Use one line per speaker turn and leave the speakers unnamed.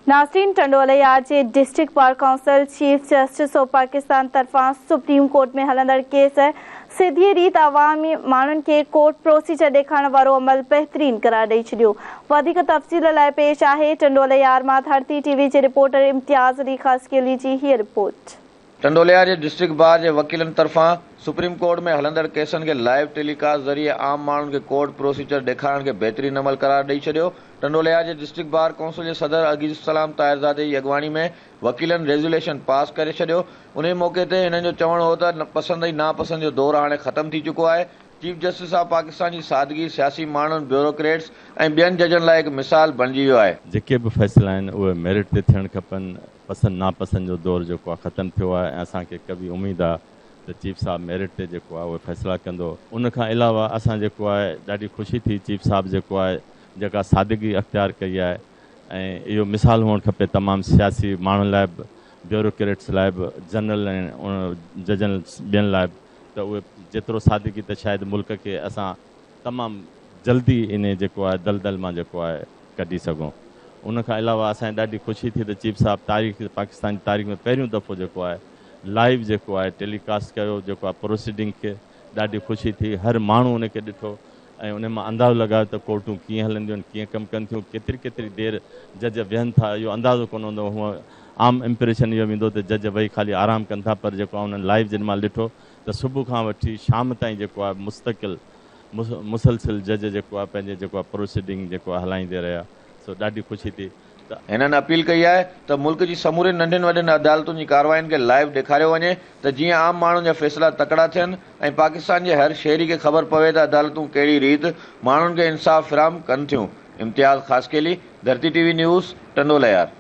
ناسرين ٽنڊوليا جي district bar council chief justice of Pakistan طرفان سپريم ڪورٽ ۾ هلندڙ ڪيس سڌيء ريت عوام ماڻهن کي ڪورٽ پروسيجر ڏيکارڻ وارو عمل بهترين قرار ڏئي ڇڏيو وڌيڪ تفصيل لاء پيش آهي ٽنڊوليار مان ڌرتي ٽي وي جي رپورٽر امتياز علي خاصخيلي جي هيء رپورٽ. ٽنڊوليا جي
ڊسٽرڪٽ بار جي وڪيلن طرفان سپريم ڪورٽ ۾ هلندڙ ڪيسن کي لائيو ٽيلي ڪاسٽ ذريعي عام ماڻهن کي ڪورٽ پروسيجر ڏيکارڻ کي بهترين عمل قرار ڏئي ڇڏيو ٽنڊوليا جي ڊسٽرڪٽ بار ڪونسل جي صدر عزيزالسلام طاهرزادي جي اڳواڻي ۾ وڪيلن ريزوليشن پاس ڪري ڇڏيو انهي موقعي تي هنن جو چوڻ هو ته پسند ۽ ناپسند جو دور هاڻي ختم ٿي چڪو آهي چيف جسٽس آف پاڪستان جي سادگي سياسي ماڻهن بيوروڪريٽس ۽ ٻين ججن لاء هڪ مثال بڻجي ويو آهي. جيڪي به فيصلا آهن
اهي ميرٽ تي ٿيڻ کپن پسند ناپسند جو دور جيڪو آهي ختم ٿيو آهي ۽ اسان کي قوي اميد آهي ته چيف صاحب ميرٽ تي جيڪو آهي اهي فيصلا ڪندو. ان کان علاوه اسان جيڪو آهي ڏاڍي خوشي ٿي چيف صاحب جيڪو آهي جيڪا سادگي اختيار ڪئي آهي ۽ اهو مثال هئڻ کپي تمام سياسي ماڻهن لاء به بيوروڪريٽس لاء به جنرل ۽ ججن ٻين لاء به ته اهي جيترو سادگي ته شايد ملڪ کي اسان تمام جلدي انهي جيڪو آهي دلدل مان جيڪو آهي ڪڍي سگهون ان کان علاوه اسان کي ڏاڍي خوشي ٿي ته چيف صاحب تاريخ پاڪستان جي تاريخ ۾ پهريون دفعو جيڪو آهي لائيو جيڪو آهي ٽيلي ڪاسٽ ڪيو جيڪو آهي پروسيڊنگ کي ڏاڍي خوشي ٿي هر ماڻهو ان کي ڏٺو ۽ انهي مان اندازو لڳايو ته ڪورٽون ڪيئن هلنديون آهن ڪيئن ڪم ڪن ٿيون ڪيتري ڪيتري دير جج ويهن ٿا اهو اندازو ڪونه هوندو هونء عام امپريشن اهو ويندو ته جج ويهي خالي آرام ڪن ٿا پر جيڪو آهي انهن لائيو جن مهل ڏٺو ته صبح کان وٺي شام تائين جيڪو آهي مستقل مسلسل جج جيڪو آهي پنهنجي جيڪو آهي پروسيڊنگ جيڪو آهي هلائيندي رهيا سو ڏاڍي خوشي ٿي ته هنن اپيل
ڪئي آهي ته ملڪ جي سمورين ننڍين وڏين عدالتن جي ڪاررواين کي لائيو ڏيکاريو وڃي ته جيئن عام ماڻهن جا فيصلا تڪڙا ٿين ۽ پاڪستان جي هر شهري کي خبر پوي ته عدالتون ڪهڙي ريت ماڻهن کي انصاف فراهم ڪن ٿيون Imtiaz Khaskheli, Dharti T V news, Tando Lahyar.